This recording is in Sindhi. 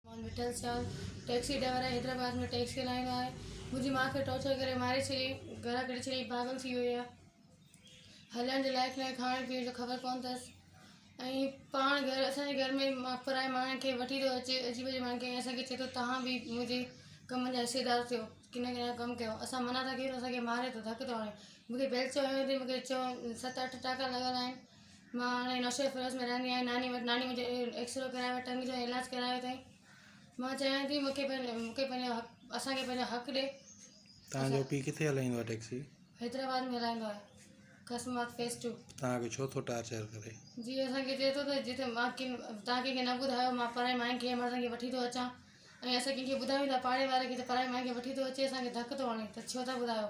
محمد مٺل شاهه ٽئڪسي ڊرائيور آهي حيدرآباد ۾ ٽئڪسي هلائيندو آهي منهنجي ماء کي ٽارچر ڪري ماري ڇڏيائين گهران ڪڍي ڇڏيائين پاڳل ٿي وئي آهي هلڻ جي لائق ناهي کائڻ پيئڻ جو خبر ڪونه اٿس ۽ پاڻ گهر اسانجي گهر ۾ پرائي ماڻهن کي وٺي ٿو اچي عجيب عجيب ماڻهن کي ۽ اسانکي چئي ٿو تهان به منهنجي ڪم جا حصيدار ٿيو ڪنهن ڪنهن ڪم ڪيو اسان منع ٿا ڪيون ته اسانکي ماري ٿو ڌڪ ٿو هڻي مونکي بيلچو هنيو اٿئي مونکي چئو ست اٺ ٽانڪا لڳل آهن مان هاڻي نوشهري فيروز ۾ رهندي آهيان ناني وٽ ناني منهنجي ايڪسرو ڪرايو ٽنگ جو ۽ علاج ڪرايو اٿائين مان چاهيان ٿي مونکي پنهنجو مونکي پنهنجو حق اسانکي پنهنجو حق ڏي تهانجو پي ڪٿي هلائيندو آهي ٽيڪسي حيدرآباد ۾ هلائيندو آهي قاسم آباد فيز ٽو تهانکي ڇو ٿو ٽارچر ڪري جي اسانکي چئي ٿو ته جتي مان ڪن تهان ڪنهنکي نه ٻڌايو مان پرائي ماين کي امڙ سان کي وٺي ٿو اچان ۽ اسان ڪنهنکي ٻڌايون ٿا پاڙي واري کي ته پرائي ماين کي وٺي ٿو اچي اسانکي ڌڪ ٿو هڻي ته ڇو ٿا ٻڌايو